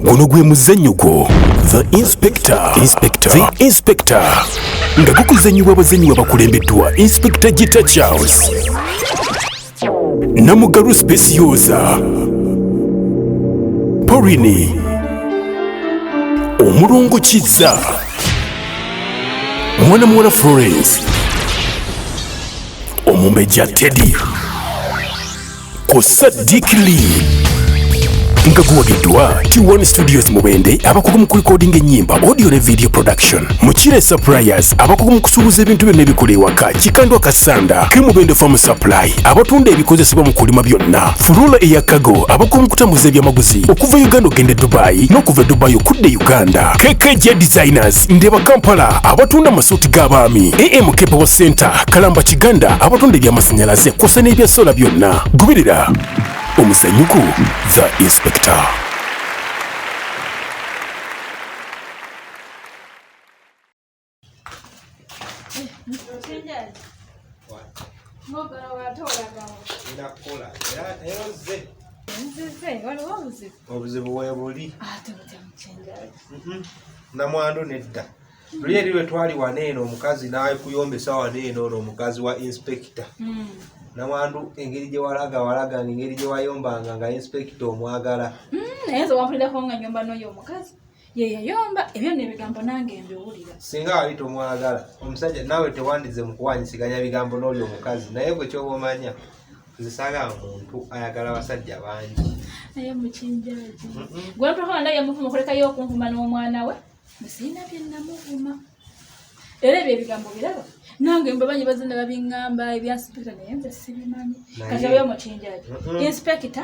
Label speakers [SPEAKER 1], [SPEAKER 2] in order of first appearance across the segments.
[SPEAKER 1] guno gwe muzannyo gwo the inspector inspector the inspector nga gukuzannyibwa abazannyi babakulembeddwa inspector gita charles namugalu specioza porini omulongo kizza mwana muwala florence omumbejja teddy ku Sadiq Lee nga guwagiddwa T1 Studios Mubende abakugu mu kulikodinga ennyimba audio ne video production Mukire Suppliers abakugu mu kusuubuza ebintu byonna ebikola ewaka Kikandwa Kasanda ke Mubende Farm Supply abatunda ebikozesebwa mu kulima byonna Furula eya Kago abakugu mu kutambuza ebyamaguzi okuva Uganda okugenda e Dubai n'okuva e Dubai okudda e Uganda KKJ Designers Market, Ndeba Kampala abatunda amasuuti g'abaami, AM Kepewo Center, Kalamba Kiganda abatunda eby'amasannyalaze kw'ossa n'ebya sola byonna. Goberera omuzanyuko The Inspector. obuzibu
[SPEAKER 2] webuli ah, namwandu nedda luli eri lwe twali wana eno omukazi nakuyombesa wana eno ono omukazi wa inspekita hmm. namwandu engeri gye walaga walaga nga engeri gye wayombanga nga inspekita omwagala hmm, naye nze wampuliddeko
[SPEAKER 3] nga nyomba noyo omukazi yeyayomba ebyo nebigambo nange mbiwulira singa wali tomwagala
[SPEAKER 2] omusajja nawe tewandize mukuwanyisiganya bigambo noyo omukazi naye gwe kyoba omanya nze saagala muntu ayagala abasajja bangi naye
[SPEAKER 3] mukinjaji gwempakama naye muvuma okulekayo okunvuma n'omwana we nsiina byennamuvuma era ebyo ebigambo biraba nange mbabanyi bazina babiŋŋamba ebyasipekita naye nze sibimanyi kati oyo mukinjaji inspekita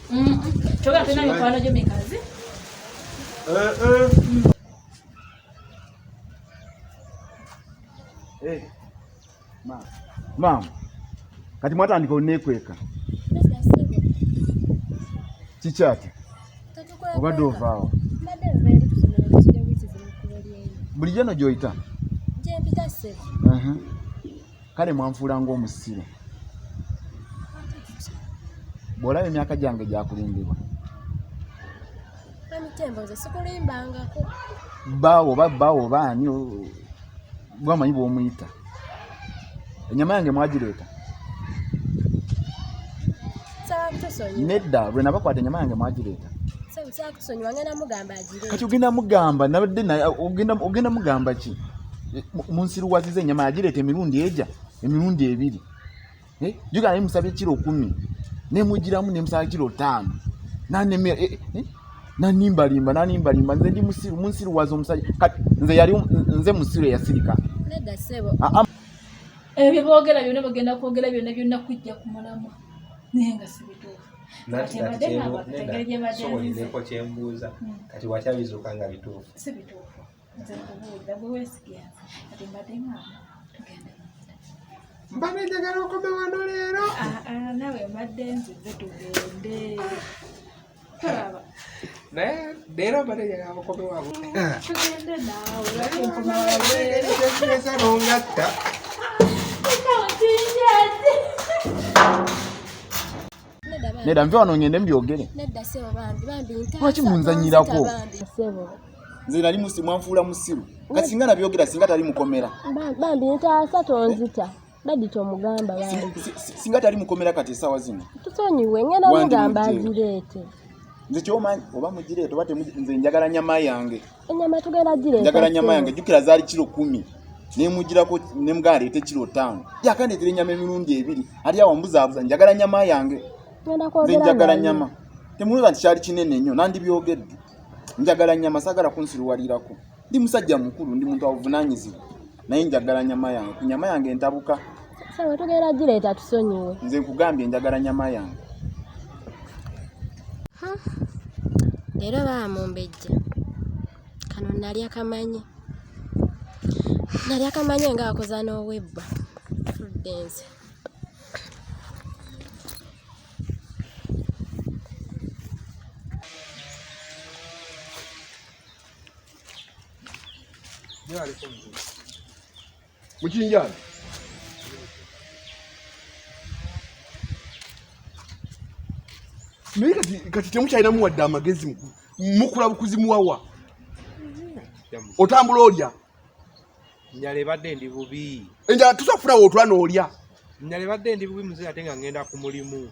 [SPEAKER 2] Toka
[SPEAKER 3] tena mikwano gyo mikazi. Eh eh.
[SPEAKER 4] Eh. Ma. Mama. Kati mwatandika onekweka. Kiki ati? Obadde ovaawo. Bulijjo no gy'oyita? Gyempita ssebo. kale mwanfuula ng'omusiru bw'olaba emyaka gyange gyakulimbibwa baawo oba baawo oba ani gwamanyi bw'omuyita enyama yange mwagireeta nedda lwe nabakwata enyama yange mwagireeta kati ogenda mugamba nabadde ogenda mugamba ki munsiruwaziza enyama yagireeta emirundi eja emirundi ebiri eh? jugana nemusaba ekiro kumi nemugiramu nemusaba kiro taano nanimba eh, eh, limba nanimba limba nze ndi musiru munsiruwaza omusajja nze yali nze musiru eyasirika
[SPEAKER 3] ebyo byeboogera byonna bagenda kwogera byonna byonna kujja ku mulamwa naye nga sibituufu
[SPEAKER 2] sobolireko kyembuuza hmm. kati watya bizuuka nga bituufu sibituufu
[SPEAKER 3] nze nkubuulira gwe wesigenza kati mbadde ngamba
[SPEAKER 2] tugende mbadde njagala okome wano leero ah, ah, nawe
[SPEAKER 3] mbadde nzize tugende naye
[SPEAKER 2] leero mbadde
[SPEAKER 3] njagala mukome wabwe tugende
[SPEAKER 2] naawe nongatta
[SPEAKER 4] nedda nve wano ngende mbyogere lwaki munzanyirako nze nali mwanfuula musiru kati singa nabyogera singa tali mukomera bambi ntaasa
[SPEAKER 5] tonzita Dadi tomugamba bambi. Singa tali mukomera
[SPEAKER 4] kati esawa zino. Tusonyiwe ngenda
[SPEAKER 5] mugamba azireete. Nze
[SPEAKER 4] kyomanyi oba mugireete oba nze njagala nyama yange. Enyama tugenda
[SPEAKER 5] gireeta. Njagala nyama yange jukira
[SPEAKER 4] zaali kiro kumi. nemugirako nemugana leeta ekiro ttaano yakandeetera enyama emirundi ebiri ali awo mbuzaabuza njagala nyama yange nze njagala nyama temuloza nti kyali kinene nnyo nandibyogedde njagala nyama sagala kunsiruwalirako Ndi musajja mukulu, ndi muntu avunanyizibwa. Naye njagala nyama yange. Ku nyama yange ntabuka. Sasa we tugera
[SPEAKER 5] gireeta tusonyiwe. Nze nkugambye njagala
[SPEAKER 4] nyama yange.
[SPEAKER 5] Ha. Leero baamumbejja. Kano nalya kamanyi. Nalya kamanyi nga akoza n'owebba. Prudence.
[SPEAKER 6] mukinjana naye kati temukyalinamu wadde amagezi mukula bukuzi muwawa otambula olya
[SPEAKER 2] njala ebadde ndi bubi enjala tusa kufuna wootula
[SPEAKER 6] noolya njala ebadde
[SPEAKER 2] ndi bubi muzee ate nga ngenda ku mulimu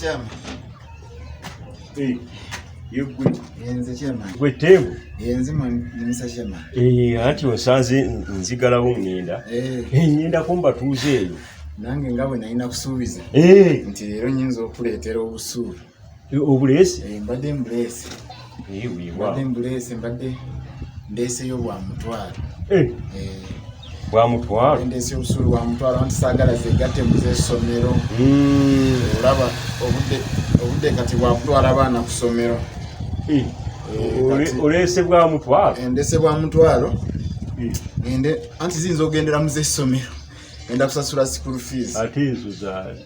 [SPEAKER 4] Chairman. Hey, you
[SPEAKER 7] good. Yenze chairman.
[SPEAKER 4] Gwe tebu.
[SPEAKER 7] Yenze man
[SPEAKER 4] Mr. Chairman. Eh, ati osanze
[SPEAKER 7] nzigalawo ngenda. Eh. Hey, ngenda kumba tuuze eyo. Nange nga bwe
[SPEAKER 4] nalina kusuubiza. Eh. Nti leero nyinza okuleetera obusuubi. obuleesi
[SPEAKER 7] eh, mbadde mbuleesi
[SPEAKER 4] mbadde
[SPEAKER 7] mbuleesi mbadde
[SPEAKER 4] ndeeseyo bwa mutwalo eh. eh.
[SPEAKER 7] bwa mutwalo ndeeseyo obusuulu bwa mutwalo
[SPEAKER 4] anti saagala zegatte mu z'essomero hmm. olaba obudde obudde kati bwakutwala abaana ku ssomero
[SPEAKER 7] oleese bwa mutwalo ndeese bwa mutwalo
[SPEAKER 4] ngende anti ziyinza ogendera mu z'essomero enda kusasula school fees ate ezo za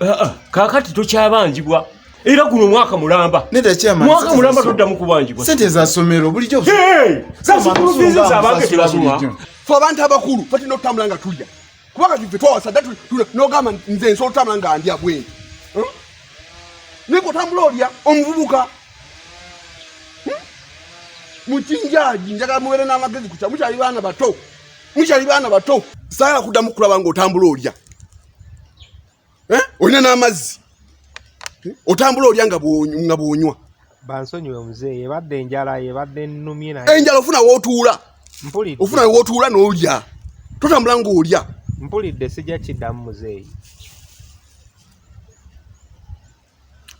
[SPEAKER 7] ah, ah, kakati tokyabanjibwa era guno mwaka mulamba mwaka mulamba
[SPEAKER 4] todda
[SPEAKER 7] mukubanjibwa sente zasomero bulijjo zabange tebasoma fe abantu abakulu
[SPEAKER 6] fatino okutambula nga tulya kubanga tufe twawasa dda nogamba nze nsobola otambula nga ndya bwene hmm? naye kotambula olya omuvubuka hmm? mukinjaji njagala mubeere n'amagezi kukya mukyali baana bato mukyali baana bato saala kuddamu kulaba nga otambula olya eh? olina n'amazzi eh? otambula olya nga bwonywa bansonyiwe
[SPEAKER 2] muzeeyi ebadde enjala ebadde nnumye naye enjala ofuna wootuula
[SPEAKER 6] mpulidde ofuna
[SPEAKER 2] wootuula
[SPEAKER 6] n'olya totambula ng'olya mpulidde sijja
[SPEAKER 2] kiddamu muzeeyi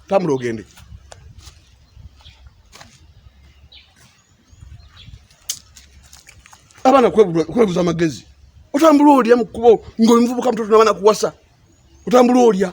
[SPEAKER 6] Tambula ogende. Abana kwebuza magezi. Otambula olya mu kubo ngoli mvubuka mtoto nabana kuwasa. Otambula olya.